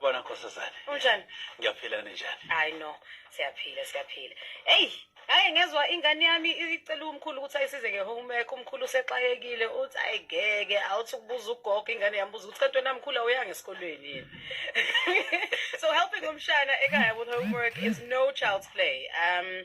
Bona nkosazane. Unjani? Ngiyaphila ninjani? Hayi no, siyaphila siyaphila. Hey, hayi ngezwa ingane yami icela umkhulu ukuthi ayisize ngehomework, umkhulu usexayekile uthi ayigeke, awuthi ukubuza ugogo ingane yami buza ukuthi kanti wena mkhulu awuyanga esikolweni yini. so helping umshana ekhaya with homework is no child's play. Um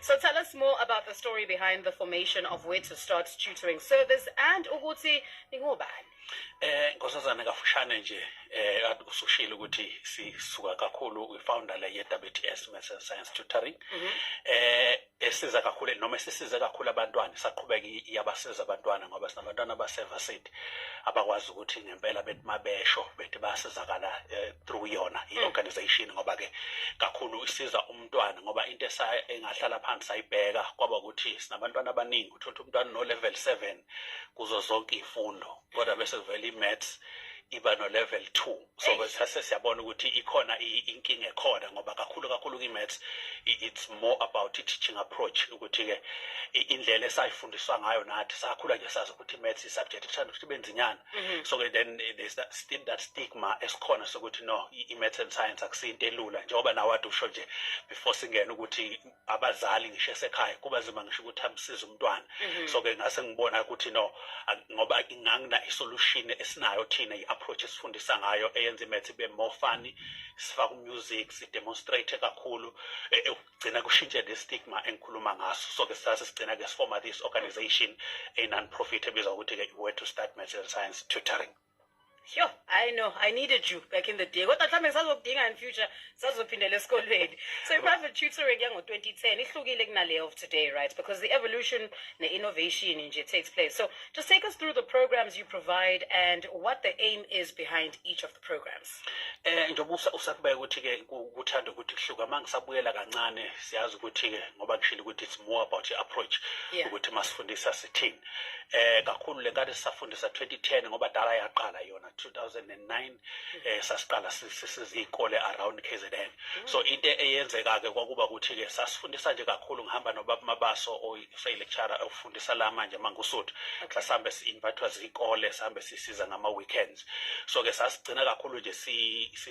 So tell us more about the story behind the formation of where to start tutoring service and ukuthi ningobani. Eh nkosazana kafushane nje eh kade usushilo ukuthi sisuka kakhulu kwi-founder le ye-WTS Maths and Science Tutoring. Mm -hmm. Eh esiza kakhulu noma esisize kakhulu abantwana saqhubeka iyabasiza abantwana ngoba sinabantwana abasevarsity abakwazi ukuthi ngempela bethi mabesho bethi basizakala eh, through yona i-organization mm. ngoba ke kakhulu isiza um umntwana ngoba into engahlala phansi sayibheka kwaba ukuthi sinabantwana abaningi uthole ukuthi umntwana no-level seven kuzo zonke iy'fundo kodwa bese kuvela i-maths iba no-level two so sase siyabona ukuthi ikhona inkinga ekhona ngoba kakhulu kakhulu kwi-maths it's more about i-teaching approach ukuthi-ke indlela esayifundiswa ngayo nathi sakhula nje sazi ukuthi i-maths i-subject ethanda ukuthi ibe nzinyana Mm-hmm. so ke then eh, there's that, still that stigma esikhona sokuthi no i-maths and science akusinto elula njengoba nawe ade usho nje before singena ukuthi abazali ngisho esekhaya kuba zima ngisho ukuthi amsize umntwana mm-hmm. so ke ngase ngibona ukuthi no ngoba ingangina isolution esinayo thina i-approach esifundisa ngayo eyenza i-maths ibe more funny sifaka umusic sidemonstrate kakhulu eh, eh, gcina kushintshe ne stigma engikhuluma ngaso so ke sase sigcina ke sifoma this organization a non profit ebizwa ukuthi ke where to start material science tutoring Sure, I know. I needed you back in the day. Kodwa mhlawumbe ngisazokudinga in future sazophindela esikolweni. So i-private tutoring yango-2010 ihlukile kunale of today, right? Because the evolution ne-innovation nje takes place. So just take us through the programs you provide and what the aim is behind each of the programs. Eh njengoba usakubeka ukuthi ke kuthanda ukuthi kuhluka manje sabuyela kancane siyazi ukuthi ke ngoba kushilo ukuthi it's more about your approach ukuthi masifundisa sithini. Eh kakhulu le kade sisafundisa 2010 ngoba dala yaqala yona 2009 eh sasiqala sizikole around KZN. Mm. So into eyenzeka ke kwakuba ukuthi ke sasifundisa nje kakhulu ngihamba nobaba Mabaso oyi lecturer ofundisa la manje mangusuthu. Sasihambe si invitwa zikole sihambe sisiza ngama weekends. so ke sasigcina kakhulu nje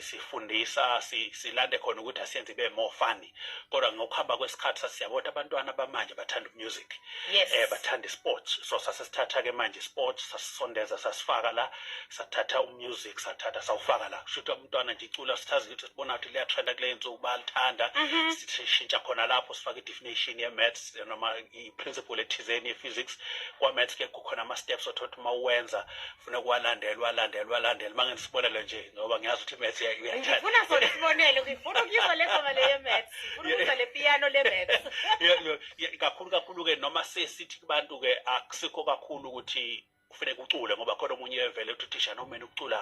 sifundisa silande khona ukuthi asiyenze ibe more funny kodwa ngokuhamba kwesikhathi sasiyabo ukuthi abantwana bamanje bathanda umusic yes. eh bathanda isports so sasesithatha ke manje isports sasisondeza sasifaka la sathatha umusic sathatha sawufaka la kusho ukuthi umntwana nje icula sithazi ukuthi sibona ukuthi liyatrenda kule nsuku balithanda mm -hmm. sishintsha khona lapho sifaka i-definition ye-maths noma i-principle ethizeni ye-physics kwa-maths ke kukhona ama-steps othothi uma uwenza funa kuwalandela walandela walandela uma ngisibonelo nje ngoba ngiyazi ukuthi imaths uyathanda ngifuna sona isibonelo ngifuna ukuyizwa le ngoma le yemaths ngifuna ukuzwa le piano le maths kakhulu kakhulu ke noma sesithi kubantu ke akusikho kakhulu ukuthi kufuneka ucule ngoba khona omunye evele ukuthi uthisha noma mina ukucula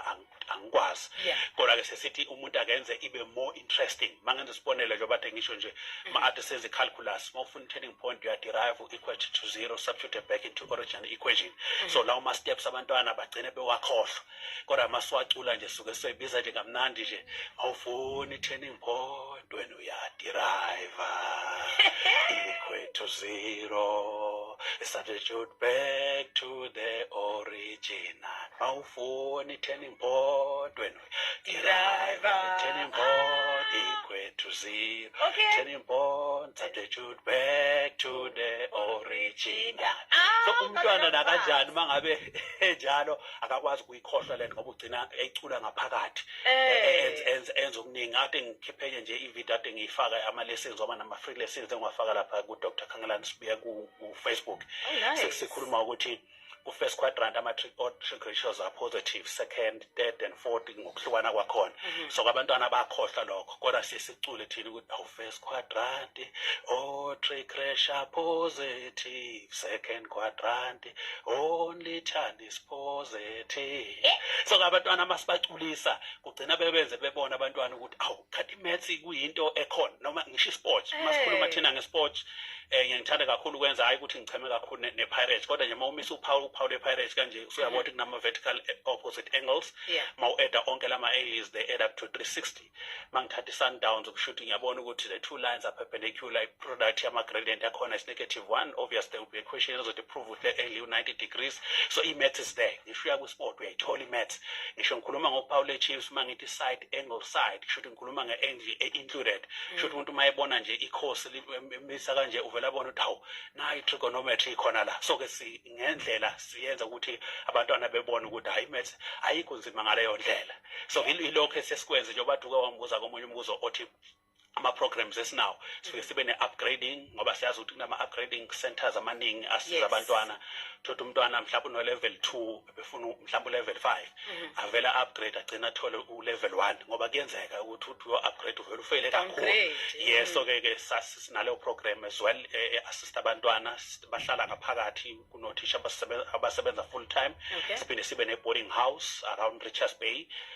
angikwazi kodwa ke sesithi umuntu akenze ibe more interesting mangenza isibonelo njengoba ngisho nje ma ade senze calculus turning point uyaderive u-equal to zero substitute back into original equation mm. so lawo ma-steps abantwana bagcine bewakhohlwa kodwa masiwacula nje suke sisoyibiza nje kamnandi nje awufuni turning point wena uyaderive equal to zero substitute back to the original awufuni turning point wena Driver. Turning board, equal to zero. Okay. Turning board, substitute back to the original. Ah, so umntwana nakanjani uma ngabe enjalo akakwazi ukuyikhohlwa lento ngoba ugcina ecula ngaphakathi eh. enza okuningi ade ngikhiphenye nje ividiyo ade ngiyifaka ama-lessons wama nama-free lessons engiwafaka lapha ku-dr khangelani sibuya ku-facebook oh, sekusikhuluma ukuthi ku-first quadrant ama-trick or trick ratios are positive second third and fourth ngokuhlukana kwakhona mhm. so kwabantwana bakhohlwa lokho kodwa siye sicule thina ukuthi awu first quadrant o oh, trick ratio positive second quadrant only child is positive eh? so kwabantwana masibaculisa kugcina bebenze bebona abantwana ukuthi awu khathi imaths kuyinto ekhona noma ngisho isport masikhuluma eh. thina ngesport eh ngiyangithanda kakhulu ukwenza hayi ukuthi ngicheme kakhulu ne-pirates kodwa nje uma umisa uphawu uphawu le-pirates kanje usuyabona mm-hmm. ukuthi kunama-vertical eh, opposite angles ma u-eda onke lama-angles they add up to 360 ma ngithatha i-sundowns ukushuthi ngiyabona ukuthi the two lines are perpendicular i-product yama-gradient yakhona is negative one obvious there will be a question ezothi prove ukuthi le-angle u-90 degrees so i-maths is there ngisho uyakusport uyayithola i-maths ngisho ngikhuluma ngophawu le-chiefs uma ngithi side angle side kusho khuluma nge-angle e-included mm. sho ukuthi umuntu uma ebona nje ikhosi limisa kanje uvele abone ukuthi hawu nayo i-trigonometry ikhona la so-ke ngendlela siyenza ukuthi abantwana bebone ukuthi hhayi imaths ayikho nzima ngaleyo ndlela so ilokho esesikwenze njengoba duke wangibuza komunye umbuzo othi ama-programs esinawo sifike sibe ne-upgrading ngoba siyazi ukuthi kunama-upgrading centers amaningi asiza abantwana thothi umntwana mhlawumbe uno-level two befuna mhlawumbe ulevel 5 mhm. avele upgrade agcina athole ulevel 1 ngoba kuyenzeka ukuthi uthi uyo upgrade uvele ufele kakhulu yes so ke ke sinaleyo program as well e, e, assist abantwana bahlala ngaphakathi kunothisha abasebenza full time siphinde sibe ne boarding house around Richards Bay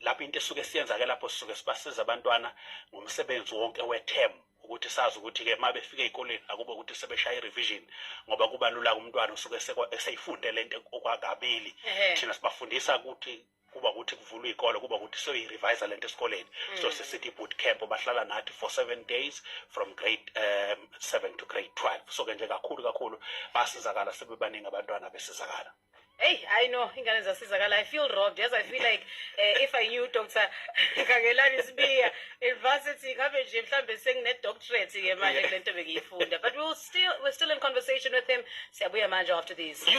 lapho into esuke siyenzake lapho sisuke sibasiza abantwana ngomsebenzi wonke we-term ukuthi sazi ukuthi-ke uma befika ey'koleni akubo ukuthi sebeshaya i-revision ngoba kubalula kumntwana usuke eseyifunde le nto okwakabili thina sibafundisa ukuthi kuba ukuthi kuvulwa iy'kole kuba ukuthi soyi-revisa le nto esikoleni mm. so sisithi i-boot camp bahlala nathi for seven days from grade um seven to grade twelve so-ke nje kakhulu kakhulu basizakala sebebaningi abantwana besizakala Hey, I know ingane zasizakala. I feel robbed. Yes, I feel like uh, if I knew Dr. Kangelani Sibiya in varsity ngabe nje mhlambe sengine doctorate ke manje lento bengiyifunda. But we'll still we're still in conversation with him. Siyabuya manje after these. You